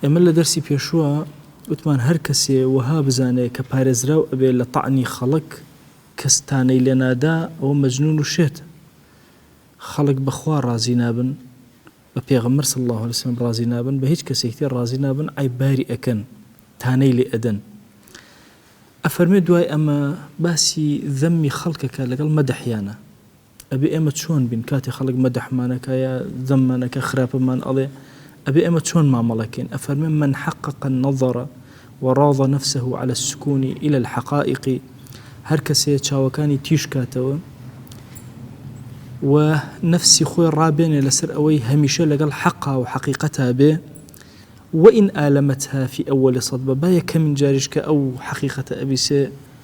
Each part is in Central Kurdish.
ئێمە لە دەرسی پێشوە وتمان هەر کەسێ وەها بزانێ کە پارێزراو ئەبێ لە تەعنی خەڵک کە ستانەی لێ نادا ئەوە مەجنون و شێتە. خەڵک بە خوا ڕازی نابن، بە پێغەمبەر صلی اللە علیە وسلم ڕازی نابن، بە هیچ کەسێکی تر ڕازی نابن عەیب باری ئەکەن، تانەی لێ ئەدەن. ئەفەرموێ دوای ئەمە باسی ذەمی خەڵک ئەکا لەگەڵ مەدحیانە. ئەبێ ئێمە چۆن بین کاتێ خەڵک مەدحمان ئەکا یا زەممان ئەکا خراپمان ئەڵێ ئەبێ ئێمە چۆن مامەڵە کەین ئەفەرمێ من حقق النظر وراض نفسه علی السکون الی الحقائق هەر کەسێ چاوەکانی تیژ کاتەوە و نفسی خۆی ڕابێنێ لەسەر ئەوەی هەمیشە لەگەڵ حەقا و حەقیقەتا بێ وئین ئالەمەتها فی ئەوەلی سەدبە با یەکەمین جاریش کە ئەو حەقیقەتە ئەبیسێ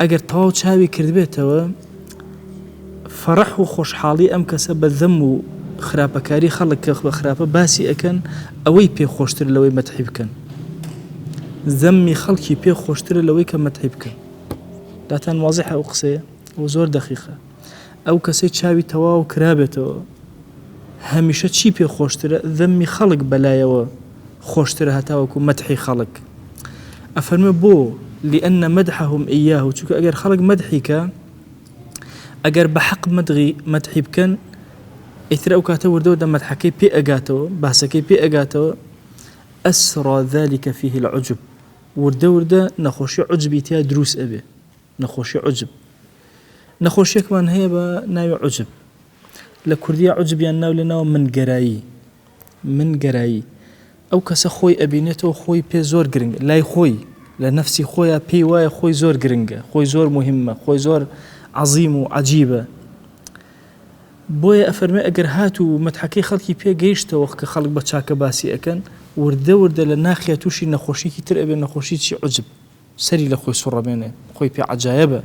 ئەگەر تەواو چاوی کردبێتەوە فەڕح و خۆشحاڵی ئەم کەسە بە زەم و خراپەکاری خەڵک کە بە خراپە باسی ئەکەن ئەوەی پێ خۆشتر لەوەی مەتحی بکەن زەممی خەڵکی پێ خۆشترە لەوەی کە مەتحی بکەن داتان وازحە ئەو قسەیە و زۆر دەخیخە ئەو کەسەی چاوی تەواو کرابێتەوە هەمیشە چی پێ خۆشترە ذەمی خەڵک بەلایەوە خۆشترە هەتاوەکو مەدحی خەڵک ئەفەرمێ بۆ لأن مدحهم إياه چونکە ئەگەر خەڵک مەدحی کە ئەگەر بە حەق مدغی مەدحی بکەن ئیتر ئەو کاتە وردەوە دە مەدحەکەی پێ ئەگاتەوە باسەکەی پێ ئەگاتەوە ئەسرا ذلك فيه العجب وردە وردە نەخۆشی عجبی تیا دروست ئەبێ نەخۆشی عجب نەخۆشیەکمان هەیە بە ناوی عجب لە کوردیا عجبیان ناو لە ناو من گەرایی من گەرایی ئەو کەسە خۆی ئەبینێتەوە خۆی پێ زۆر گرنگ لای خۆی لە نفسی خۆیان پێی وایە خۆی زۆر گرنگە خۆی زۆر مهمە خۆی زۆر عظیم و عجیبە بۆیە ئەفەرمێ ئەگەر هات و مەتحەکەی خەڵکی پێگەیشتەوە کە خەڵک بە چاکە باسی ئەەکەن وردە وردە لە ناخیا تووشی نەخۆشیکی تر ئەبێ نەخۆشی چی عجب سەری لە خۆی سوڕەمێنێ خۆی پێ عەجایەبە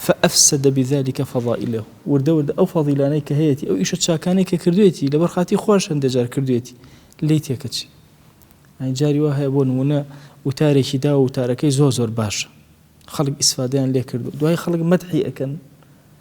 فەئەفسەدە بذلک فەضائلە وردە وردە ئەو فەضیلانەی کە هەیەتی ئەو ئیشە چاکانەی کە کردوێتی لەبەر خاتی خۆش هەندێ جار کردوێتی لی تێکەچی ئەی جاری وا هەیە بۆ نمونە وتارێکی دا و وتارەکەی زۆر زۆر باشە خەڵک ئیسفادەیان لێ کردو دوای خەڵک مەدحی ئەکەن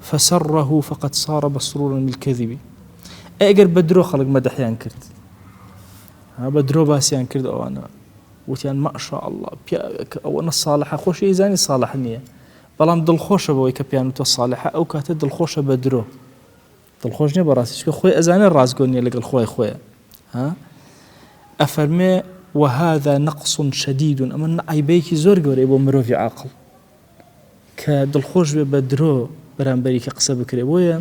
فسره فقد صار مسرورا بالکذب ئەی ئەگەر بە درۆ خەڵک مەدەحیان کرد ها بە درۆ باسیان کرد ئەوانە وتیان ماشاء الله پیاوێک ئەوە نە ساڵحە خۆشی ئیزانی ساڵح نییە بەڵام دڵخۆشە بەوەی کە پیان و تۆ ساڵحە ئەو کاتە دڵخۆشە بە درۆ دڵخۆش نیە بەڕاستی چکە خۆی ئەزانە ڕاستگۆ نیە لەگەڵ خۆی خۆیە ها ئەفەرمێ وهذا نقص شديد ئەمە عیبەیەکی زۆر گەورەی بۆ مرۆڤی عاقل کە دڵخۆش بێ بە درۆ بەرامبەری کە قسە بکرێ بۆیە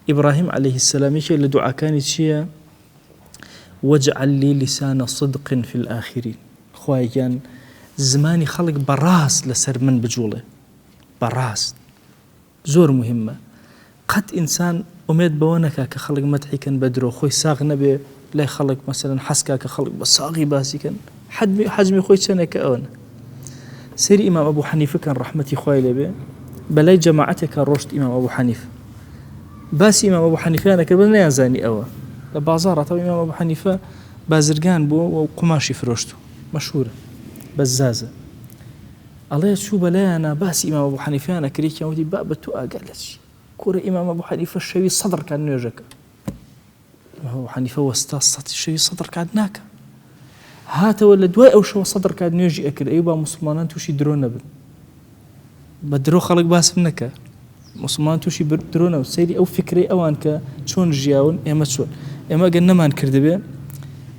ئیبراهیم عليه السلام یەکێک لە دوعاکانی چییە وجعل لي لسان صدق في الآخرين خوای گیان زمانی خەڵک بەڕاست لەسەر من بجوڵێ بەڕاست زۆر موهیمە قەت ئینسان ئومێد بەوە نەکا کە خەڵک مەتحی کەن بە درۆ خۆی ساغ نەبێ لای خەڵک مەسەلەن حەزکا کە خەڵک بە ساغی باسی کەن حەدمی حەزمی خۆی چەنێک کە ئەوەن سری ئیمام ئەبوو حەنیفە کەن ڕەحمەتی خوای لێبێ بەلای جەماعەتێکە ڕۆشت ئیمام ئەبوو حەنیف باسی ئیمام ئەبوو حەنیفیانەکە بە نیانزانی ئەوە لە بازاڕاتەوە ئیمام ئەبوو حەنیفە بازرگان بووە و قوماشی فرۆشت و مەشهورە بەزازە ئەڵێ چوو بە لایانا باسی ئیمام ئەبو حەنیفەیان ئەکرد یەکیان وتی بابە تۆ ئاگات لە چی کورە ئیمام ئەبو حەنیفە شەوی سەد ڕکات نوێژە کرد ئیمام ئەبو حەنیفە وەستا سەد شەوی سەد ڕکات ناکە هاتەوە لە دوای ئەو شەوە سەد ڕکات نوێژی ئەکرد ئەی با موسڵمانان تووشی درۆ نەبن بە درۆ خەڵک باسم نەکە موسڵمان توشی درۆنە و سەیری ئەو فیکرەی ئەوان کە چۆن ژیاون ئێمە چۆن ئێمە گەر نەمان کردبێ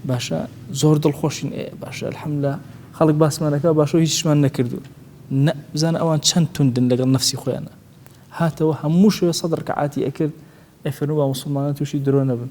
باشە زۆر دڵخۆشین ئێ باشە الحەملا خەڵک باسمانەکە باشە هیچمان نەکردو نە بزان ئەوان چەند توندن لەگەڵ نفسی خۆیانە هاتەوە هەموو شوێ سەدڕکە عاتی ئەکرد ئەفەرموو بە موسڵمانە تووشی درۆ نەبن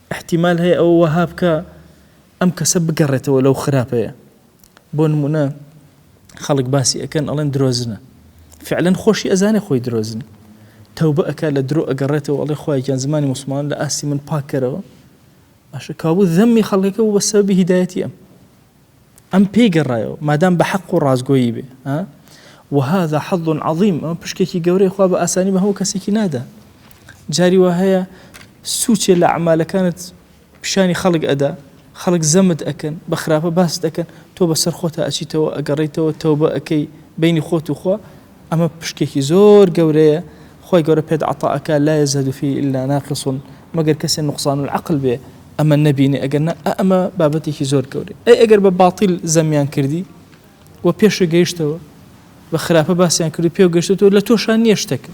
ئیحتیمال هەیە ئەوە وەها بکا ئەم کەسە بگەڕێتەوە لەو خراپەیە بۆ نمونە خەڵک باسی ئەکەن ئەڵێن درۆزنە فعلەن خۆشی ئەزانێ خۆی درۆزنە تەوبە ئەک لە درۆ ئەگەڕێتەوە ئەڵێ خخوایان زمانی مسلمان لە ئاستی من پاکەرەوە باشە کابوو ذەممی خەڵکەکە و بە سەبی هیدایەتی ئەم ئەم پێی گەڕایەوە مادام بە حەق و ڕاستگۆیی بێ ها وهذا حظ عظیم ئەمە پشکێکی گەورەی خوا بە ئاسانی بە هەموو کەسێکی نادا جاری وا هەیە سوچێ لە عمالەکانت پیشانی خەڵک ئەدا خەڵک زەمت ئەکەن بە خراپە باست ئەکەن تۆ بەسەر خۆتا ئەچیتەوە ئەگەڕیتەوە تەوبە ئەەکەی بینی خۆت و خوا ئەمە پشکێکی زۆر گەورەیە، خوای گەورە پێت عەتا ئەکا، لا یزهد فیه الا ناقص، مەگەر کەسێ نوقصان العقل بێ ئەمە نەبینێ، ئەگەر نا ئا ئەمە بابەتێکی زۆر گەورەیە، ئەی ئەگەر بە باتیل زەمیان کردی و پێشت گەیشتەوە، بە خراپە باسیان کردو پێو گەیشتووەتەوە، لە تۆشا نییە شتەکە،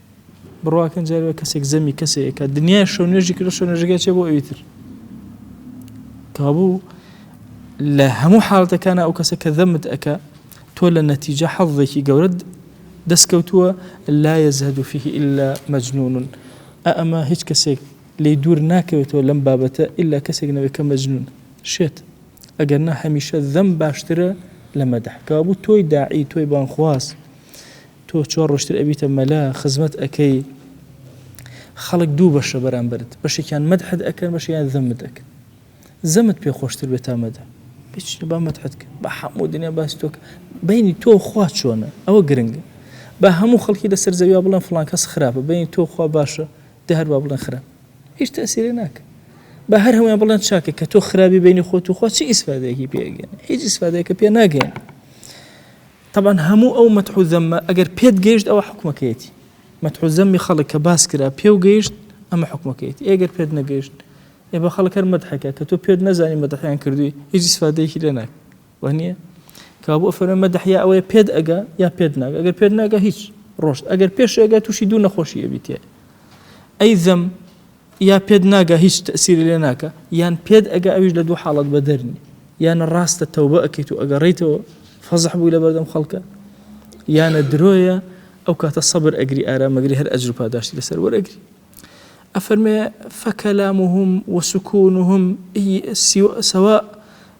بڕواکەن جارێ کەسێک زەمی کەسێک کە دنیای شەو نوێژی کرد شەو نوێژەکە چێ بۆ ئەویتر کابوو لە هەموو حاڵەتەکانە ئەو کەسە کە دەمت ئەەکە تۆ لە نەتیجە حەڵێکی گەورەت دەستکەوتووە لا یەزهد و فیه ئللا مەجنونون ئەمە هیچ کەسێک لی دوور ناکەوێتەوە لەم بابەتە ئللا کەسێک نەوێت کە مەجنون شێت ئەگەر نە هەمیشە دەم باشترە لە مەدەح کابوو تۆی داعی تۆی بانخواست تۆ چۆن ڕۆشتر ئەبیتە مەلا خزمەت ئەکەی خەڵک دوو بەشە بەرامبەرت بەشێکیان مەدحت ئەکەن بەشیان زەمت ئەکەن زەمت پێ خۆشتر بێت تا مەدە بچ با مەدحت کرد بە حەموو دنیا باس تۆک بینی تۆ خوا چۆنە ئەوە گرنگە با هەموو خەڵکی لەسەر زەویا بڵێن فلان کەس خراپە بینی تۆ خوا باشە دە هەر با بڵێن خراپ هیچ تەسیرێ ناکە بە هەر هەمویان بڵێن چاکە کە تۆ خراپی بینی خۆت و خۆ چی ئیسفادەیەکی پێگەن هیچ ئیسفادەیەکە پێ ناگەن تەبعەن هەموو ئەو مەتح و زەممە ئەگەر پێت گەیشت ئەوە حوکمەکەیەتی مەتح و زەممی خەڵک کە باس کرا پێ و گەیشت ئەمە حوکمەکەیەتی ئێ گەر پێت نەگەیشت ئێ بە خەڵک هەر مەدحەکە کە تۆ پێت نەزانی مەدحیان کردووی هیچ ئیسفادەیەکی لێ ناک وە نییە کە بۆ فەرمە مەدح یا ئەوەیە پێت ئەگا یا پێت ناگە ئەگەر پێت ناگە هیچ ڕۆشت ئەگەر پێش ئەگە تووشی دوو نەخۆشی ئەبیتێ ئەی زەم یا پێت ناگا هیچ تەئسیری لێ ناکا یان پێت ئەگا ئەویش لە دوو حاڵەت بەدەر نی یانە ڕاستە تەوبە ئەکەیت و ئەگەڕیتەوە فەزح بووی لە بەردەم خەڵکە یانە درۆیە ئەو کاتە سەبر ئەگری ئارامەگری هەر ئەجر و پاداشتی لەسەر وەرەگری ئەفەرمێ فەکەلامهم وسکونهم سوا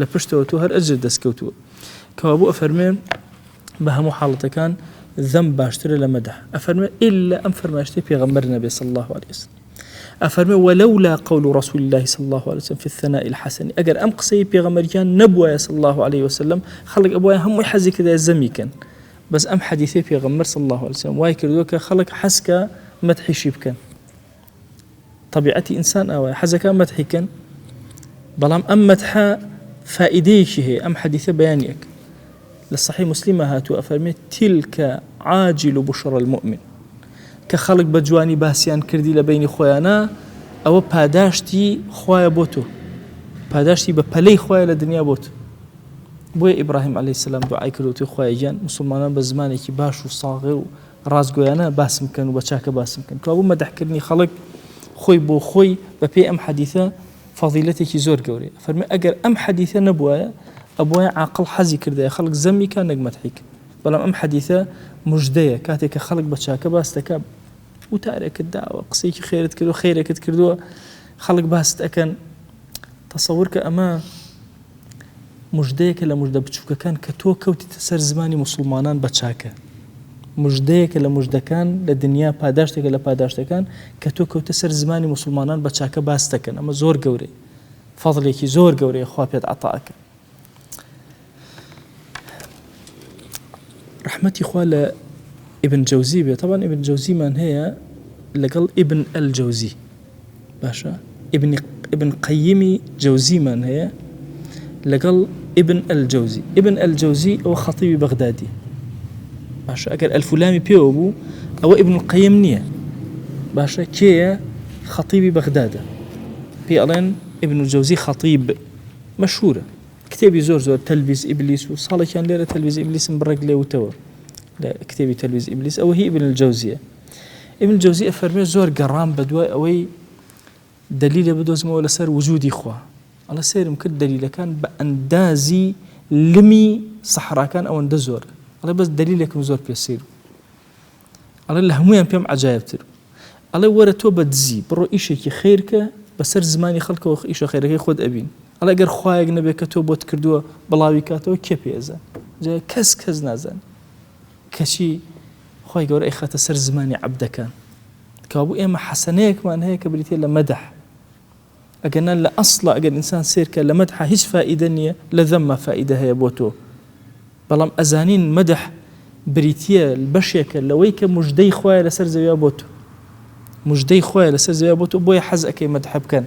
لە پشتەوە تۆ هەر ئەجرت دەستکەوتووە. کەوابوو ئەفەرموێ، بە هەموو حاڵەتەکان ذەم باشترە لە مەدح. ئەفەرموێ، ئیللا ئەم فەرمایشتەی پێغەمبەر نەبێ صلی اللە علیە وسلم. ئەفەرموێ، ولولا قول رسول اللە صلی اللە علیە وسلم فی الثناء الحسن، ئەگەر ئەم قسەی پێغەمبەریان نەبوایە صلی اللە علیە وسلم، خەڵک ئەبوایە هەمووی حەزی کردایە ذەمی کەن. بەس ئەم حەدیثەی پێغەمبەر صلی اللە علیە وسلم وای کردووە کە خەڵک حەز کا مەدحیشی بکەن. تەبیعەتی ئینسان ئاوایە حەزەکە مەتحی کەن بەڵام ئەم مەتحە فائیدەیەکی هەیە ئەم حەدیثە بەیانیەک لە صحی مسلمە هاتوو ئەفەرمێت تیلکە عاجل و بشڕ المؤمن کە خەڵک بە جوانی باسییان کردی لە بینی خۆیانە ئەوە پاداشتی خوایە بۆ تۆ پاداشتی بە پەلەی خوایە لە دنیا بۆت بۆیە ئیبراهیم علی سلام دوعای کردوتی خخوایان مسلمانان بە زمانێکی باش و ساغێ و ڕاستگۆیانە باسم بکەن و بە چاکە باسم بکەن، کەوابوو مەدحکردنی خەڵک خۆی بۆ خۆی بە پێی ئەم حەدیثە فەضیلەتێکی زۆر گەورەیە، فەرمووی ئەگەر ئەم حەدیثە نەبوایە ئەبوایە عاقڵ حەزی کردایە خەڵک زەمی کا نەک مەدحی کا، بەڵام ئەم حەدیثە مژدەیە کاتێک کە خەڵک بە چاکە باست دەکا وتارێکت داوە قسەیەکی خێرت کردووە خێرێکت کردووە خەڵک باست ئەکەن تەسەور کە ئەمە مژدەیەکە لە مژدە بچووکەکان کە تۆ کەوتیتە سەر زمانی موسڵمانان بە چاکە مژدەیەکە لە مژدەکان لە دنیا پاداشتێکە لە پاداشتەکان کە تۆ کەوتە سەر زمانی موسڵمانان بە چاکە باس دەکەن ئەمە زۆر گەورەی فەضلێکی زۆر گەورەیە خوا پێت عتاکە رحمەتی خوا لە ئبن جەوزی بێت تاوان ئبن جەوزیمان هەیە لەگەڵ ئبن ئەل جەوزی باشە ابن قەیمی جەوزیمان هەیە لەگەڵ ابن ئەلجەوزی ابن ئەلجەوزی ئەو خەتیبی بەغدادی باشە ئەگەر ئەلفولامی پێوە بوو ئەوە ابن قەیم نییە باشە کێیە خەتیبی بەغدادە پێ ئەڵێن ابن جەوزی خەتیب مەشهورە کتێبی زۆر زۆر تەلویز ئیبلیس و ساڵێکیان لێرە تەلویز ئیبلیسم بڕێک لێوتەوە لە کتێبی تەلویز ئیبلیس ئەوە هی ابن الجەوزیە ابن جوزی ئەفەرمێ زۆر گەڕام بە دوای ئەوەی دلیلە بدۆزمەوە لەسەر وجودی خوا ئەڵە سێرم کرد دلیلەکان بە ئەندازی لمی سەحراکان ئەوەندە زۆر ئەڵێ بەس دلیلێکم زۆر پێ سیر ئەڵێ لە هەمویان پێم عجاایبتر ئەڵێ وەرە تۆ بە دزی بڕۆ ئیشێکی خیرکە بەسەر زمانی خەڵکەوە ئیشە خێرەکەی خۆت ئەبین ئەڵێ گەر خوایەک نەبێت کە تۆ بۆت کردووە بڵاوی کاتەوە کێ پێزان جا کەس کەس نازان کەچی خوای گەورە ئەیخاتە سەر زمانی عەبدەکان، کەوابوو ئێمە حەسەنەیەکمان هەیە کە بریتیە لە مەدح، ئەگەرنا لە ئەسڵا ئەگەر ئینسان سەیر کە لە مەدحا هیچ فائیدە نیە لە زەمما فائیدە هەیە بۆ تۆ، بەڵام ئەزانین مەدح بریتیە بەشێکە لەوەی کە مژدەی خوایە لەسەر زەویا بۆ تۆ، مژدەی خوایە لەسەر زەویا بۆ تۆ بۆیە حەز ئەکەی مەدح بکەن.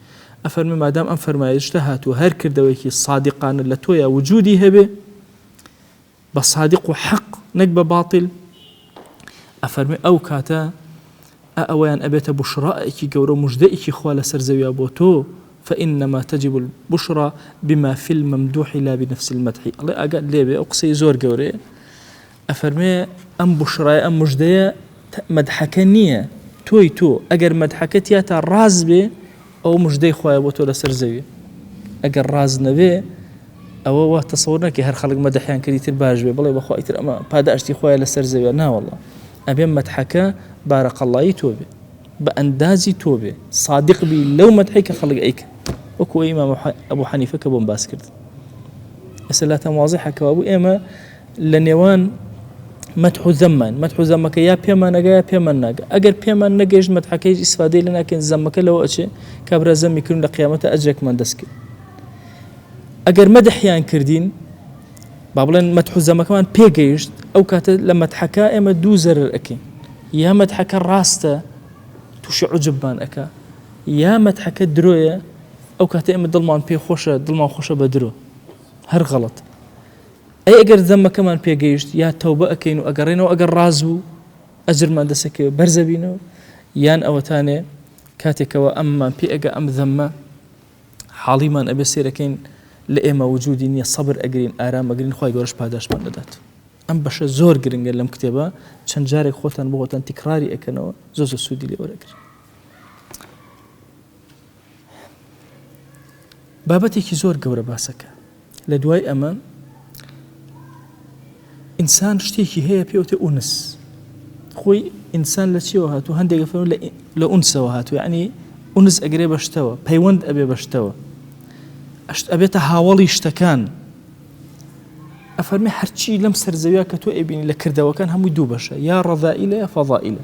ئەفەرمێ مادام ئەم فەرمایشتە هاتووە هەر کردەوەیەکی سادقانە لە تۆیا وجودی هەبێ بە سادق و حەق نەک بە باتیل ئەفەرمی ئەو کاتە ئەویان ئەبێتە بشڕائێکی گەورە مژدەیەکی خوا لەسەر زەویا بۆ تۆ فإنما تجب البشرى بما في الممدوح لا بنفس المدح الله ئەگەر لێبێ ئەو قسەی زۆر گەورەیە ئەفەرموێ، ئەم بوشرایە، ئەم مژدەیە، مەدحەکە نییە، تۆی تۆ، ئەگەر مەدحەکە تیاتا ڕاست بێ، ئەوە مژدەی خوایە بۆ تۆ لەسەر زەوی، ئەگەر ڕاست نەبێ، ئەوە وا تەسەور نەکەی هەر خەڵک مەدحیان کرد ئیتر باش بێ، بڵێ بەخوا ئیتر ئەمە پاداشتی خوایە لەسەر زەویە، ناوەڵڵا، ئەبێ مەدحەکە بارک اللە ی تۆ بێ، بە ئەندازی تۆ بێ، سادق بی لەو مەدحەی کە خەڵک ئەیکەن، وەکو ئیمام ئەبو حەنیفە کە بۆم باس کرد. ئێستا لاتان وازیحە کەوابوو ئێمە لە نێوان مەدح و زەممان مەدح و زەمەکە یا پێمان نەگا یا پێمان ناگە ئەگەر پێمان نەگەیشت مەدحەکەیش ئیسفادەی لە ناکەین زەمەکە لەوە ئەچێ کابرا زەمی کردن لە قیامەتە ئەجرێکمان دەست کرد ئەگەر مەدحیان کردین با بڵێن مەدح و زەمەکەمان پێگەیشت ئەو کاتە لە مەدحەکە ئێمە دوو زەرر ئەکەین یا مەدحەکە ڕاستە تووشی عجبمان ئەکا یا مەدحەکە درۆیە ئەو کاتە ئێمە دڵمان پێ خۆشە دڵمان خۆشە بە درۆ هەر غەڵت ئەی ئەگەر زەممەکەمان پێگەیشت یا تەوبە ئەکەین و ئەگەڕێنەوە ئەگەر ڕاز بوو ئەجرمان دەسەکەوێت بەرزەبینەوە یان ئەوەتانێ کاتێکەوە ئەممان پێ ئەگە ئەم زەممە حاڵیمان ئەبێ سێرەکەین لە ئێمە وجودی نییە سەبر ئەگرین ئارامەگرین خی گەۆش پاداشمان دەدات ئەم بەشە زۆر گرنگە لەم کتێبە چەند جارێک خۆتان بۆتان تیکراری ئەەکەنەوە زۆ زۆ سوودی لێوەرەگرن بابەتێکی زۆر گەورە باسەکە لە دوای ئەمە ئینسان شتێکی هەیە پێوتێ ئونس خۆی ئینسان لە چیەوە هاتو هەندێک فەر لە ئونسەوە هاتو ینی ئونس ئەگرێ بەشتەوە پەیوەند ئەبێ بەشتەوە ئەشت ئەبێتە هاوڵی شتەکان ئەفەرمی هەرچی لەم سەرزەویا کە تۆ ئەبینی لە کردەوەکان هەمووی دوو بەشە یا ڕەڤائیلە یا فەضائیلە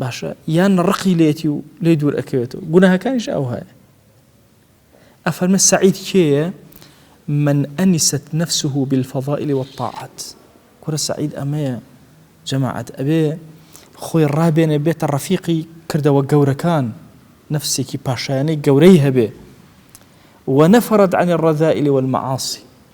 باشە یان ڕقی لێتی و لێ دوور ئەکەوێتەوە گوناهەکانیش ئەو هەیە ئەفەرمە سعید کێیە من ئەنیست نفسه بالفضائل والطاعات کورە سعید ئەمەیە جەماعەت ئەبێ خۆی ڕابێنێ بێتە ڕەفیقی کردەوە گەورەکان نفسێکی پاشایانەی گەورەی هەبێ ونفرت عن الرذائل والمعاصي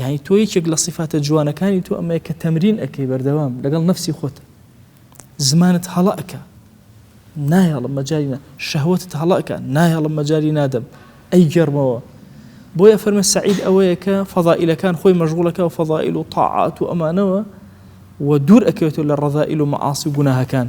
یانی تۆ یەکێک لە سیفاتە جوانەکانی تۆ ئەمەیە کە تەمرین ئەکەی بەردەوام لەگەڵ نەفسی خۆت زمانت هەڵە ئەکە نایەڵم مەجارینە شەهوتت هەڵە ئەکە نایەڵم مەجاری نادەم ئەی گەرمەوە بۆیە فەرمە سعید ئەوەیە کە فەضائیلەکان خۆی مەژغوڵەکە و فەضائیل و تاعات و ئەمانەوە و دوور ئەکەوێتەوە لە ڕەذائیل و مەعاسی و گوناهەکان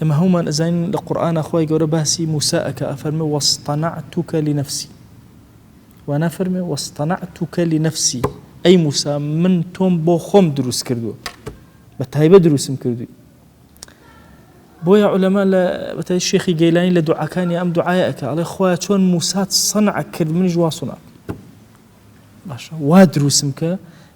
ئێمە هەموومان ئەزانین لە قورئانا خوای گەورە باسی موسا ئەکا ئەفەرمێ واصطنعتک لنفسی وانافەرمێ واصطنعتک لنفسی ئەی موسا من تۆم بۆ خۆم دروست کردووە بە تایبە دروستم کردووی بۆیە علەما لە بەتای شێخی گەیلانی لە دوعاکانی ئەم دوعاە ئەکە ئەڵێ خخوایە چۆن موسات سەنع کرد منیش واسونا باشە وا دروستم کە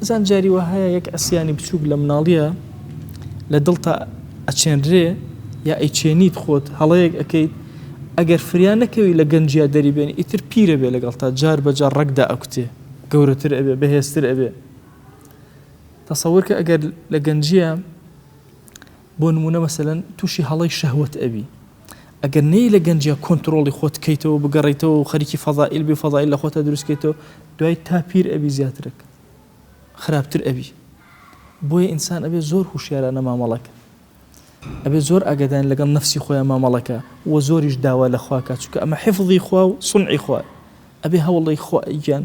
بزان جاری وە هەیە یەک ئەسیانی بچووک لە مناڵیە لە دڵتا ئەچێنرێ یا ئەیچێنیت خۆت هەڵەیەک ئەەکەیت ئەگەر فریان نەکەوی لە گەنجیا دەریبێن ئیتر پیرە بێ لەگەڵ تا جار بەجار ڕەگدا ئەکوتێ گەورەتر ئەبێ بەهێزتر ئەبێ تەسەورکە ئەگەر لە گەنجە بۆ نمونە مەسەن تووشی هەڵی شەهوت ئەبی ئەگەر نەیەی لە گەنجیا کۆنتڕۆڵی خۆت کەیتەوە بگەڕیتەوە و خەریکی فەزائیل بی و فەزائیل لە خۆتا دروست کەیتەوە دوای تا پیر ئەبی زیاترک خراپتر ئەبی بۆیە ئینسان ئەبێ زۆر هوشیارانە مامەڵەکە ئەبێ زۆر ئاگادان لەگەڵ نفسی خۆیان مامەڵەکە و زۆریش داوا لە خواکە چکە ئەمە حفظی خوا و سنعی خوای ئەبێ هەوڵی خۆیان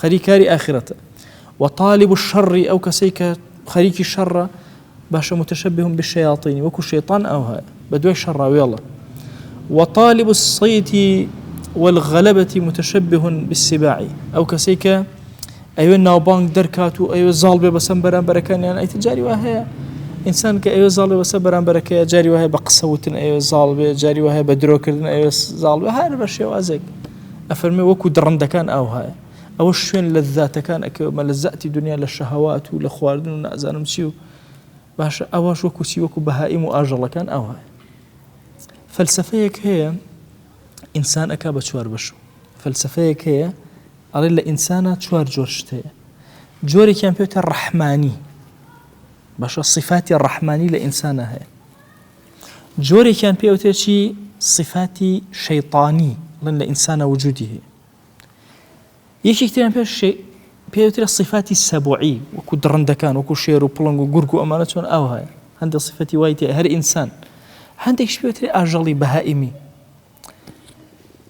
خەریک کاری ئاخرەتە و طالب الشر ئەو کەسەی کە خەریکی شەڕە باشە متشبه بالشياطين وەکو شەیطان ئەوها بە دوای شەڕاوێڵە وطالب الصيت والغلبة متشبه بالسباع ئەو کەسەی کە ئەوێ ناوبانگ دەرکات و ئەوێ زاڵ بێ بەسەم بەرامبەرەکانیان ئەیتە جاری وە هەیە ئینسان کە ئەوێ زاڵێ بەسە بەرامبەرەکە جاری وایە بە قسەوتن ئەوێ زاڵ بێ جاری وایە بە درۆکردن ئەوێ زاڵ بە هەر بە شێوازێک ئەفەرمێ وەکو دڕندەکان ئاوهایە ئەوە شوێن لەزاتەکان ئەکەوێ مەلەزاتی دنیا لە شەهەوات و لە خواردن و نازانم چی و باشە ئەوەش وەکو چی وەکو بەهائیم و ئاژەڵەکان ئاوهایە فەلسفەیەک هەیە ئینسان ئەک بە چوار بەش و فەلسفەیەک هەیە ئەڵێ لە ئینسانە چوار جۆر شت هەیە جۆرێکیان پێێتە ڕەحمانی باشە صفاتی ڕەحمانی لە ئینسانە هەیە جۆرێکیان پێ ئەوترێ چی صفاتی شەیتانی ڵن لە ئینسانە وجودی هەیە یەکێک تریان پێ پێ ئەوترێ صفاتی سەبوعی وەکو دڕندەکان وەکو شێر و پڵنگ و گورگ و ئەمانە چۆن ئاو هەیە هەندە صفەتی وای تێ هەر ئینسان هەندێک شپێتری ئاژەڵی بەهائیمی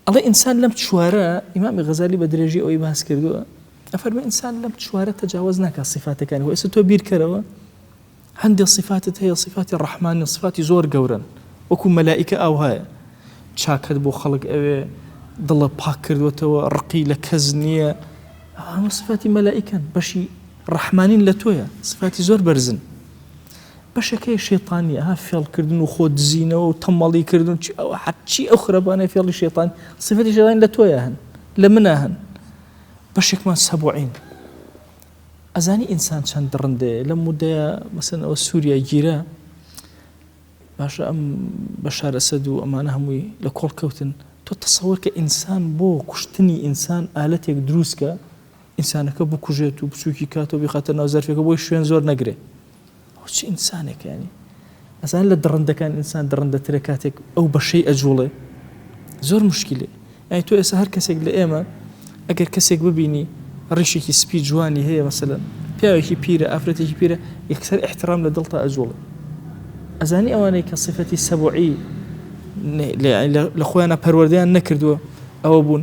ئەڵێ ئینسان لەم چوارە ئیمامی غەزالی بە درێژی ئەوەی باس کردووە ئەفەرمە ئینسان لەم چوارە تەجاوز ناکە سیفاتەکانی ئێستا تۆ بیرکەرەوە هەندێک سیفاتت هەیە سیفاتی ڕەحمانی سفاتی زۆر گەورن وەکو مەلایکە ئاو هەیە چاکەت بۆ خەڵک ئەوێ دڵە پاک کردوێتەوە ڕقی لە کەس نییە ئەمە سفاتی مەلایکەن بەشی ڕەحمانین لە تۆیە سفاتی زۆر بەرزن بەشەکەی شێطانی ئەها فێڵکردن و خۆ دزینەوە و تەمەڵی کردن چی ئەو حەچی ئەو خراپانە فێڵی شێطان سفەتی شێطان لە تۆیە هەن لە منە هەن بەشێکمان سەبعین ئەزانی ئینسان چەند دڕندەیە لە مدەیە مەسن ئەوە سووریا گیرە باشە ئەم بە شارەسەد و ئەمانە هەمووی لە کۆڵ کەوتن تۆ تەسەوەر کە ئینسان بۆ کوشتنی ئینسان ئالەتێک دروستکە ئینسانەکە بکوژێت و بچوکی کاتەوە بیخاتە ناو زەرفێکە بۆی شوێن زۆر نەگرێ ئەو چ ئینسانێکە ینی ئەزان لە دڕندەکان ئینسان دڕندەترە کاتێک ئەو بەشەی ئەجوڵێ زۆر مشکلێ ئەی تۆ ئێستا هەر کەسێک لە ئێمە ئەگەر کەسێک ببینی ڕیشێکی سپی جوانی هەیە مەسەن پیاوێکی پیرە ئافرەتێکی پیرە یەکسەر احترام لە دڵتا ئەجوڵێ ئەزانی ئەوانەی کە سفەتی سەبعی لە خۆیانە پەروەردەیان نەکردووە ئەوە بوون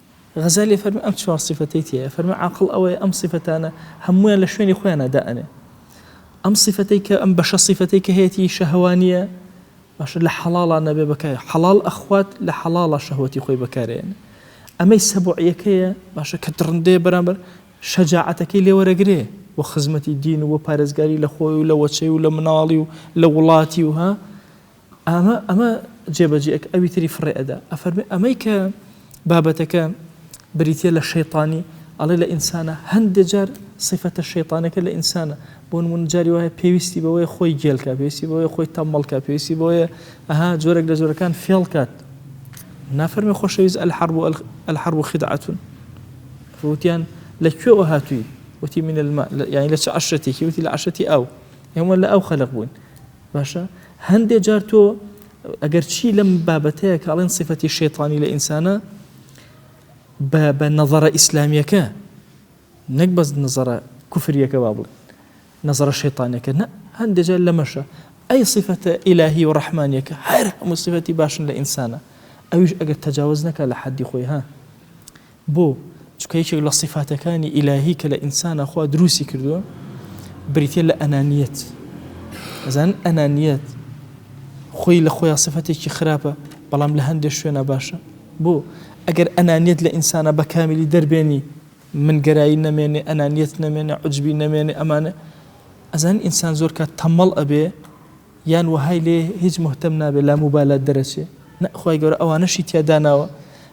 غەزالی ئەفەرموێ ئەم چوار سیفەتەی تیایە، ئەفەرموێ عاقڵ ئەوەیە ئەم سیفەتانە هەموویان لە شوێنی خۆیانا دائەنێ. ئەم سیفەتەی کە ئەم بەشە سیفەتەی کە هەیەتی شەهوانییە، باشە لە حەڵاڵا نەبێ بەکار حەڵاڵ ئەخوات لە حەڵاڵا شەهوەتی خۆی بەکار ئەیەنێ. ئەمەی سەبوعیەکەیە باشە کە دڕندەیە بەرامبەر شەجاعەتەکەی لێ وەرەگرێ بۆ خزمەتی دین و بۆ پارێزگاری لە خۆی و لە وەچەی و لە مناڵی و لە وڵاتی و ها، ئامە ئەمە جێبەجێ ئەکا ئەوی تری فڕێ ئەدا ئەفەرمێ ئەمەی کە بابەتەکە بریتە لە شەیطانی ئەڵێ لە ئینسانە هەندێ جار سیفەتە شەیطانەکە لە ئینسانە بۆ نمونە جاری وایە پێویستی بەوەی خۆی گێلکە پێویستی بەوەی خۆی تەمەڵکە پێویستی بۆیە ئەها جۆرەك لە جۆرەکان فێڵ کات نافەرمی خۆشەویست الحرب و الحرب و خدعتون وتیان لە کوێوە هاتووی وتی من الماء یعنی لە چ عشرەتێکی وتی لە عشرەتی ئەو ئێمە لە ئەو خەلق بووین باشە هەندێ جار تۆ ئەگەر چی لەم بابەتەیە کە ئەڵێن سیفەتی شەیتانی لە ئینسانە بە بە نەظرە ئیسلامیەکە نەک بەس نظرە کوفریەکە با بڵێ نظرە شەیتانەکە نە هەندێک جار لەمەشە ئەی سیفەتە ئیلاهی و ڕەحمانیەکە هەر هەموو سیفەتی باشن لە ئینسانە ئەویش ئەگەر تەجاوز نەکە لە حەدی خۆی ها بۆ؟ چونکە یەکێک لە سیفاتەکانی ئیلاهی کە لە ئینسانا خوا دروستی کردووە بریتیە لە ئەنانیەت ئەزان ئەنانیەت خۆی لە خۆیان سفەتێکی خراپە بەڵام لە هەندێک شوێنە باشە بۆ ئەگەر ئەنانیت لە ئینسانە بە کامیلی دەربێنی من گەرایی نەمێنێ ئەنانیت نەمێنێ عجبی نەمێنێ ئەمانە ئەزان ئینسان زۆر کات تەمەڵ ئەبێ یان وهای لێ هیچ مهتم نابێت لا موبالات دەرەچێ نەخوای گەورە ئەوانەشی تیاداناوە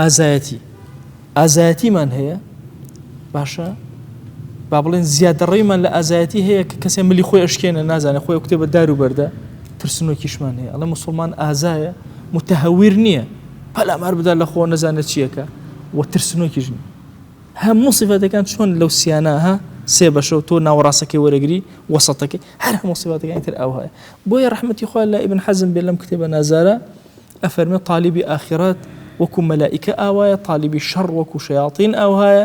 ئازایەتی ئازایەتیمان هەیە باشە با بڵێن زیادەڕێمان لە ئازایەتی هەیە کە کەسێ ملی خۆی ئەشکێنە نازانێت خۆی کتێ بە دار و بەردە ترسنۆکیشمان هەیە ئەڵە مسلمان ئازایە متهویر نییە پەلامار بدا لە خۆ نەزانە چییەکە و ترسنۆکیش نیە هەموو سیفاتەکان چۆن لەو سیانەها سێ بەشە و تۆ ناوەڕاستەکەی وەرەگری وەسەتەکەی هەر هەموو سیفاتەکانی تر ئەوهەیە بۆیە ڕحمەتی خۆیان لە ئیبن حەزم بێ لەم کتێبە نازارە ئەفەرمێ تالیبی ئاخیرەت وەکو مەلائیکە ئاوایە تالیبی شەڕ وەکو شەیاطین ئاوهایە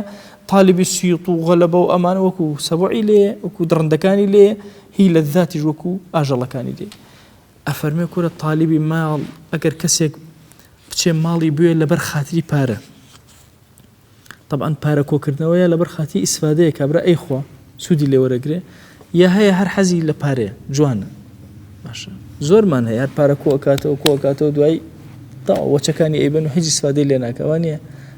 تالیبی سیوط و غەلەبە و ئەمان وەکو سەبعی لێ وەکو دڕندەکانی لێ هی لە ذاتیش وەکو ئاژەڵەکانی لێ ئەفەرمێ کورە تالیبی ماڵ ئەگەر کەسێک بچێ ماڵی بوێ لەبەر خاتری پارە تەبعەن پارە کۆکردنەوە یا لەبەر خاتری ئیسفادەیە کابرا ئەیخوا سوودی لێ وەرەگرێ یا هەیە هەر حەزی لە پارەیە جوانە باشە زۆرمان هەیە هەر پارە کۆ ئەکاتەوە کۆ ئەکاتەوە دوای تاوە وەچەکانی ئەیبەن و هیچ ئیسفادەی لێ ناکەوە نییە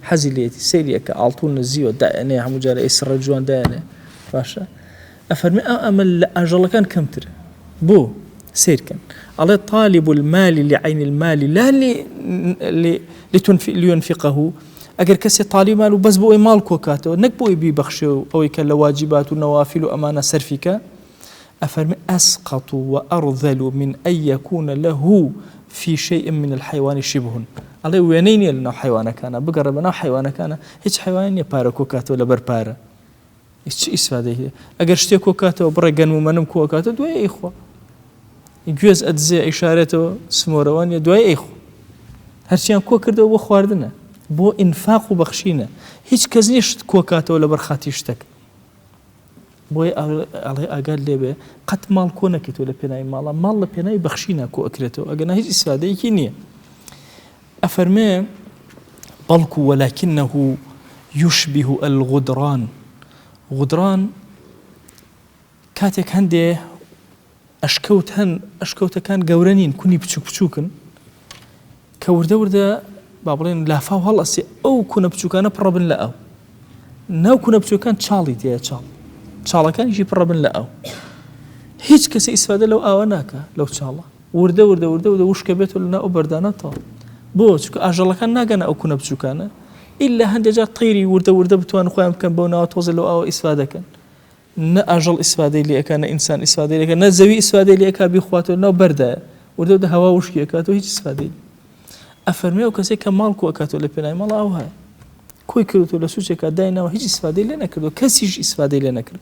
حەزی لێتی سەیریەکە ئاڵتون نزیوە دایەنێ هەموو جارە ئەی سڕە جوان دایەنێ باشە ئەفەرمێ ئا ئەمە لە ئاژەڵەکان کەمترە بۆ؟ سەیرکەن ئەڵێ طالب المال لعین المال لا لیونفقه ئەگەر کەسێ تالی مال و بەس بۆ ئەوی ماڵ کۆکاتەوە نەک بۆی بیبەخشێ و ئەوەی کە لە واجبات و نەوافل و ئەمانە سەرفیکە ئەفەرمی ئەسقط و ئەڕذل و من ئەیەکوونە لە هو في شيء من الحيوان شبه ئەڵێ وێنەی نییە لەناو حیوانەکانە بگەڕێ بەناو حیوانەکانە هیچ حیوان نیە پارە کۆکاتەوە لەبەر پارە ئیت چ ئیسفادەی هەیە ئەگەر شتێک کۆ کاتەوە بڕێ گەنم و مەنم کۆ کاتە دوای ئەیخوا گوێز ئەدزێ ئیشارێتەوە سمۆرەوانە دوای ئەیخوا هەرچیان کۆ کردەوە بۆ خواردنە بۆ ئینفاق و بەخشینە هیچ کەس نیە شت کۆ کاتەوە لە بەرخاتی شتەک بۆی ئەڵێ ئاگات لێبێ قەت ماڵ کۆ نەکەیتەوە لە پێناوی ماڵە ماڵ لە پێناوی بەخشینە کۆ ئەکرێتەوە ئەگەنا هیچ ئیسفادەیەکی نییە ئەفەرمێ، بەڵکو ولکنه یشبه الغدران، غدران کاتێک هەندێ ئەشکەوت هەن، ئەشکەوتەکان گەورە نین، کونی بچوک بچوکن، کە وردە وردە با بڵێن لافاو هەڵئەسێ ئەو کونە بچوکانە پڕەبن لە ئاو. ناو کونە بچوکان چاڵی تێە چاڵ. چاڵەکانیشی پڕەبن لە ئاو. هیچ کەسە ئیسفادە لەو ئاوە ناکە لەو چاڵە. وردە وردە وردە وردە وشکەبێتەوە لە ناو ئەو بەردانەتەوە بۆ چکە ئاژەڵەکان ناگەنە ئەو کونە بچووکانە ئللا هەندێک جار تەیری وردە وردە بتوان خۆیان بکەن بەو ناوە تۆزە لەو ئەوە ئیسفا دەکەن نە ئاژەڵ ئیسفادەی لەکە نە ئینسان ئیسفادەی لەکە نە زەوی ئیسفادەی لەکە بیخواتەوە ناو بەردایە وردە دە هەوا وشکیەکات و هیچ ئیسفادەی ئەفەرمی و کەسێک کە ماڵ کوەکاتەوە لە پێنای ماڵ ئەو هەیە کۆی کردو لە سوچێکا داینەوە هیچ ئیسفادەی لێ نەکردو کەسیش ئیسفادەی لێ نەکرد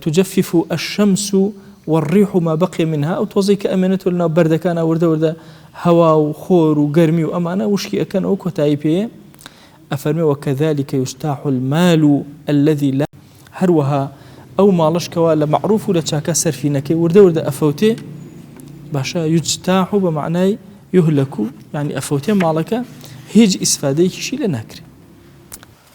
تجفف الشمس والریح ما بقی منها ئەو تۆزەی کە ئەمێنێتەوە لەناو بەردەکانا وردە وردە هەوا و خۆر و گەرمی و ئەمانە وشکی ئەکەنەوە کۆتایی پێیە ئەفەرمێ وکذلک یستاح المال الذی لا هەروەها ئەو ماڵەش کەوا لە معروف و لە چاکە سەرفی نەکەی وردە وردە ئەفەوتێ باشە یجتاح و بە معنای یهلکو یعنی ئەفەوتێ ماڵەکە هیچ ئیسفادەیەکیشی لێ ناکرێ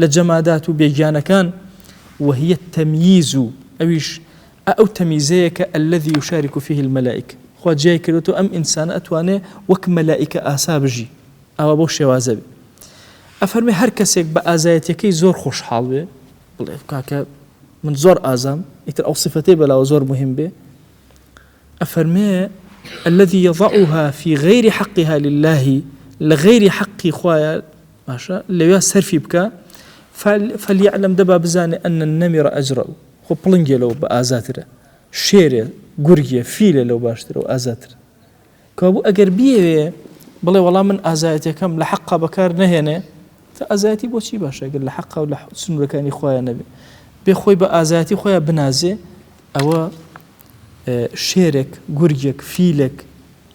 لە جەمادات و بێگیانەکان، وهی التمییز، و ئەویش ئە ئەو تەمیزەیە کە الذی یشارک فیه الملائکە، خوا جیای کردۆتەوە ئەم ئینسانە ئەتوانێ وەک مەلائیکە ئاسا بژی، ئاوا بەو شێوازە بێ. ئەفەرمێ هەر کەسێک بە ئازایەتیەکەی زۆر خۆشحاڵ بێ، بڵێ کاکە من زۆر ئازام، ئیتر ئەو سفەتەی بەلاوە زۆر موهیم بێ، ئەفەرمێ، الذی یضعها فی غیر حقها للە، لە غەیری حەقی خوایە باشە لەوێ سەرفی بکا، فلیعلم دەبا بزانێ ان النمر اجرء، خۆ پڵنگێ لەو بە ئازاترە، شێرێ، گورگێ، فیلێ لەو باشترە و ئازاترە. کەوابوو ئەگەر بیەوێ بڵێ وەڵا من ئازایەتیەکەم لە حەقا بەکار نەهێنێ، تە ئازایەتی بۆ چی باشە گەر لە حەقا و لە سنورەکانی خوایە نەبێ، بێ خۆی بە ئازایەتی خۆیا بنازێ، ئەوە، شێرێک، گورگێک، فیلێک،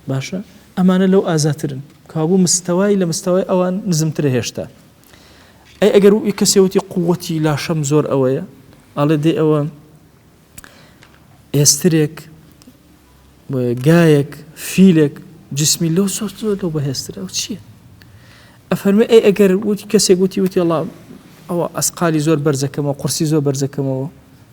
باشە ئەمانە لەو ئازاترن، کابوو مستەوای لە مستەوای ئەوان نزمترە هێشتا. ئەی ئەگەر وی کەسێوتی قووەتی لاشەم زۆر ئەوەیە، ئاڵێ دێ ئەوە ئێسترێک، گایەک، فیلێک، جسمی لەو زۆر زۆر لەو بەهێسترە ئەو چییە؟ ئەفەرمێ ئەی ئەگەر وتی کەسێک وتی وتی ئەڵام ئەوە ئەسقالی زۆر بەرزەکەمەوە قورسی زۆر بەرزەکەمەوە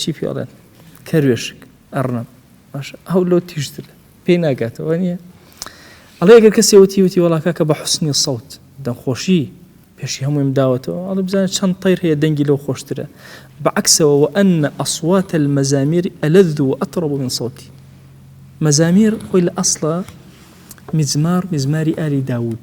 چی پێ ئەڵێن کەروێشک ئەڕنم باشە ئەو لۆ تیژتر پێی ناگاتەوە نیە ئەڵێ گەر کەسێ وتی وتی وڵاکە کە بە حسنی سەوت دەخۆشی پێشی هەموویم داوەتەوە ئەڵێ بزانە چەند تەیر هەیە دەنگی لەو خۆشترە بەعکسەوە و ئەن ئەسواتە المەزامیر ئەلەذ و ئەتڕب من سەوتی مەزامیر خۆی لە ئەسڵە میزمار میزماری ئاری داود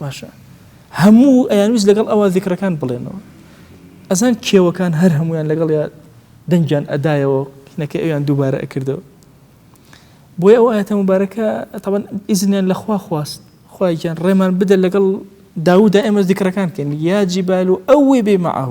باشە هەموو ئەیانویست لەگەڵ ئەوە ذکرەکان بڵێنەوە ئەزان کێوەکان هەر هەمویان لەگەڵ یا دەنگیان ئەدایەوە نەکە ئەویان دووبارە ئەکردەوە بۆی ئەو ئاەتە مبارەکە تەبەن ئیزنیان لەخوا خواست خواگیان ڕێمان بدە لەگەڵ داودا ئێمە ذکرەکان کەین یا جیبال و ئەوێ بێ معه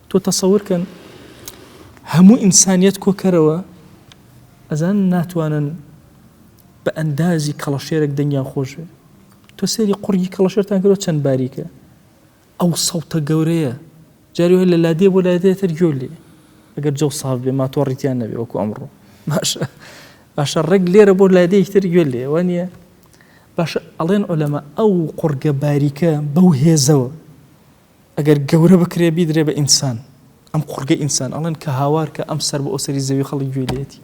تۆ تەسەور کەن هەموو ئینسانیەت کۆکەرەوە ئەزان ناتوانن بە ئەندازی کەڵەشێرێک دەنگیان خۆش بێ تۆ سێری قڕگی کەڵەشێرتان کرۆ چەند باریکە ئەو سەڵتە گەورەیە جاری لە لادێ بۆ لادێتر گوێ لێ ئەگەر جەو ساف بێ ماتۆڕیتیان نەبێ وەکو ئەمڕۆ باشە باشە ڕێک لێرە بۆ لادێکتر گوێ لێ وە نیە باشە ئەڵێن ئۆلەمە ئەو قڕگە باریکە بەو هێزەوە ئەگەر گەورە بکرێ بیدرێ بە ئینسان، ئەم قوڕگە ئینسان ئەڵێن کە هاوار کە ئەم سەر بە ئەو سەری زەوی خەڵک گوێی لێتی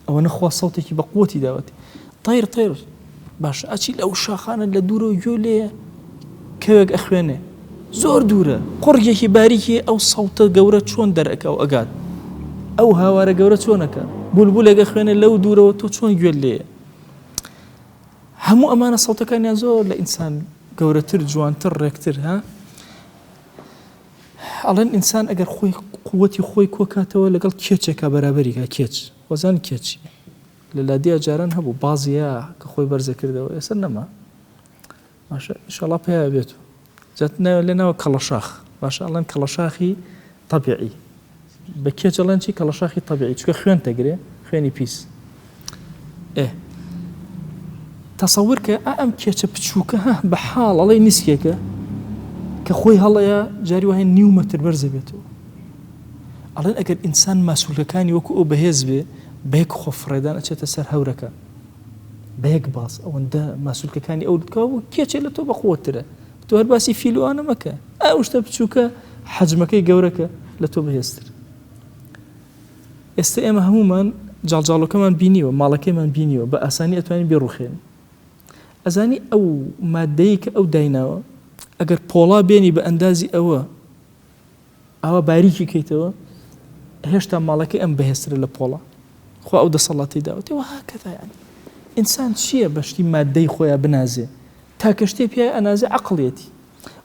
ئەوەنە خوا سەوتێکی بە قوتی داوەتی طیر طیر باش ئەچی لەو شاخانە لە دوورە و گوێ لێ کەوێک ئەخوێنێ زۆر دوورە قڕگێکی باریکی ئەو سەوتە گەورە چۆن دەرەکە و ئەگات ئەو هاوارە گەورە چۆنەکە بولبولێگە خوێنێ لەو دوورەوە تۆ چۆن گوێ لێە هەموو ئەمانە سەوتەکانیان زۆر لە ئینسان گەورەتر جوانتر ڕێکتر ها ئەڵێن ئینسان ئەگەر خۆی قوتی خۆی کۆکاتەوە لەگەڵ کێچێکا بەرابەریگا کێچ وەزان کێچی لە لادیا جاران هەبوو بازیە کە خۆی بەرزە کردەوە ئێستا نەما ماشە شڵا پیا بێت و جا ناوێ لێ ناوە کەڵەشاخ باشە ئەڵێن کەڵەشاخی طبیعی بە کێچ ئەڵێن چی کەڵەشاخی طبیعی چکە خوێن تەگرێ خوێنی پیس ئێ تەسەور کە ئەم کێچە بچووکە هە بە حاڵ ئەڵێ نیسکێکە کە خۆی هەڵەیە جاری وایە نیو مەتر بەرزە بێتەوە ئەڵێن ئەگەر ئینسان ماسوولەکانی وەکو ئەو بەهێز بێ بەیەک خۆفڕێدان ئەچێتە سەر هەورەکە بەیەک باس ئەوەندە ماسولکەکانی ئەو دکا بوو کێ چێ لە تۆ بەقوترە تۆ هەر باسی فیلوانە مەکە ئەو شتە بچووکە حەجمەکەی گەورەکە لە تۆ بەهێزتر ئێستا ئێمە هەمومان جاڵجاڵەکەمان بینیوە ماڵەکەیمان بینیوە بە ئاسانی ئەتوانین بێڕوخێن ئەزانی ئەو مادەیە کە ئەو دایناوە ئەگەر پۆڵا بێنی بە ئەندازی ئەوە ئاوا باریکی کەیتەوە هێشتا ماڵەکەی ئەم بەهێزترە لە پۆڵا خوا ئەو دەسەڵاتی داوەتی وە هاکەدا یعنی ئینسان چییە بە شتی مادەی خۆیان بنازێ تاکە شتێ پیای ئەنازێ عقلەتی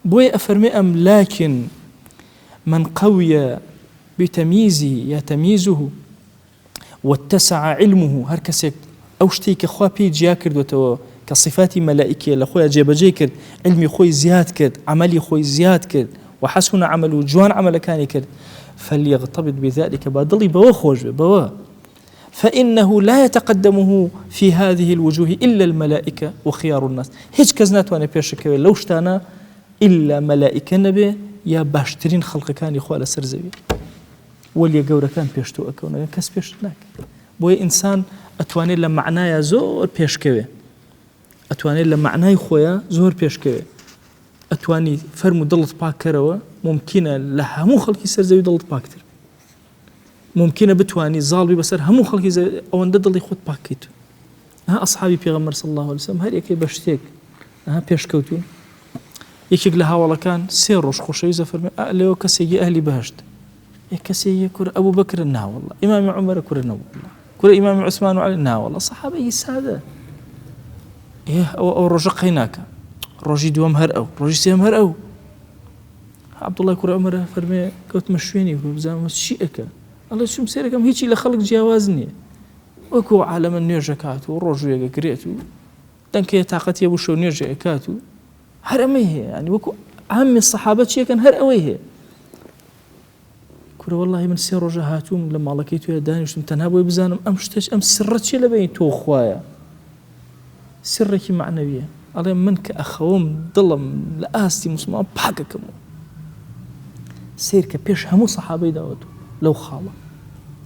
بۆیە ئەفەرمێ ئەم لاکن من قویە بتەمیزی یا تەمیزه واتسع علمه هەر کەسێک ئەو شتەی کە خوا پێی جیا کردوەتەوە کە صفاتی مەلائیکیە لە خۆی جێبەجێ کرد علمی خۆی زیاد کرد عملی خۆی زیاد کرد وحسن عمله جوان عملەکانی کرد فليغتبط بذلك با دڵی بەوە خۆش بێ بەوە فإنه لا يتقدمه في هذه الوجوه إلا الملائكة وخيار الناس هیچ کەس ناتوانێت پێشکەوێت لەو شتانە إلا مەلائیکە نەبێ یا باشترین خەڵقەکانی خوا لەسەر زەوی وەلیە گەورەکان پێش تۆ ئەکەونەوە کەس پێشت ناکە بۆیە ئینسان ئەتوانێت لە معنایە زۆر پێشکەوێ ئەتوانێت لە معنای خۆیە زۆر پێشکەوێ ئەتوانی فەرم و دڵت پاکەرەوە ممکنە لە هەموو خەڵکی سەرزەوی دڵت پاکتر ممکنە بتانی زاڵبی بەسەر هەموو خەڵکی ئەوەندە دڵی خۆت پاکیت ها ئەسحابی پێغەمبەر صلی اللە علیە وسلم هەر یەکەی بە شتێک ها پێشکەوتون یەکێک لە هاوڵەکان سێ ڕۆژ خۆشەوی زەفەرمێ ئە لەوە کەسێکی ئەهلی بەهشت یە کەسێکی کورە ئەبوو بکرن ناوەڵە ئیمامی عمرە کورە نەبوو کورە ئیمامی عوسمان و علی ناوەڵە سەحابەی سادە ئێه ئەوە ئەو ڕۆژە قەیناکە ڕۆژی دووەم هەر ئەو ڕۆژی سێم هەر ئەو عبدوڵای کورە عمرە فەرمێ کەوتمە شوێنی بزانمە چی ئەەکە ئەڵێ چوم سێرەکەم هیچی لە خەڵک جیاواز نییە وەکو ئەو عالەمە نوێژەکات و ڕۆژ وێگەگرێت و دەنکەیە تااقەت یە وشە و نوێژە ئەکات و هەر ئەمەی هەیە ینی وەکو ئامی سەحابە چیەکەن هەر ئەوەی هەیە کورە واللهی من سێ ڕۆژە هاتووم لە ماڵەکەی توێ دانیشتم تەنها بۆی بزانم ئەم شتەش ئەم سڕە چیە لە بینی تۆ خوایە سڕێکی مەعنەویە ئەڵێ من کە ئەخەوم دڵم لە ئاستی موسڵمان پاکەکەم و سیرکە پێش هەموو سەحابەی داوەت و لەو خاڵە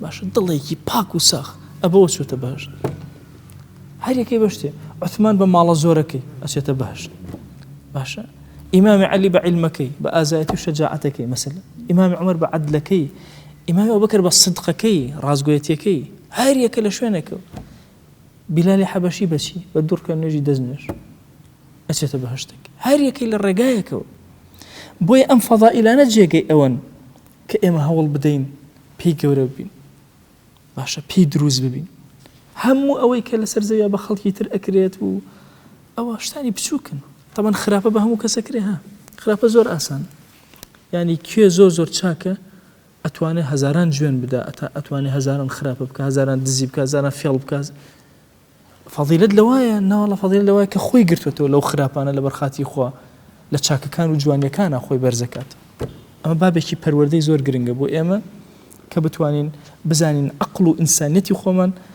باشە دڵێکی پاک و ساخ ئەبەوە چێتە بەهشت هەرێکی بەشتێ عثمان بە ماڵە زۆرەکەی ئەچێتە بەهشت باشە ئیمامی علی بە علمەکەی بە ئازایەتی و شەجاعەتەکەی مەسل ئیمامی عمر بە عدلەکەی ئیمامی ئەو بکرد بە صدقەکەی ڕازگوێتیەکەی هەر یەکە لە شوێنەکە بیلالی حەبەشی بەچی؟ بە دوڕکە نوێژی دەست نوێژ ئەچێتە بەهەشتێک هەر یەکەی لە ڕێگایەکەوە بۆیە ئەم فەضائیلانە جێگەی ئەوەن کە ئێمە هەوڵ بدەین پێی گەورە ببین باشە پێی دروست ببین هەموو ئەوەی کە لەسەر زەویا بە خەڵکی تر ئەکرێت و ئەوە شتانی بچووکن تەمەەن خراپە بە هەموو کەسەکرێ ها خراپە زۆر ئاسان ینی کوێ زۆر زۆر چاکە ئەتوانێ هەزاران جوێن بدا ئەتا ئەتوانێ هەزاران خراپە بکا هەزاران دزی بکا هەزاران فێڵ بکا فەضیلەت لەوایە ناوەڵا فەضیلەت لەوایە کە خۆی گرتوێتەوە لەو خراپانە لەبەر خاتی خوا لە چاکەکان و جوانیەکانە خۆی بەرزەکات ئەمە بابێکی پەروەردەی زۆر گرنگە بۆ ئێمە کە بتوانین بزانین عقل و ئینسانیەتی خۆمان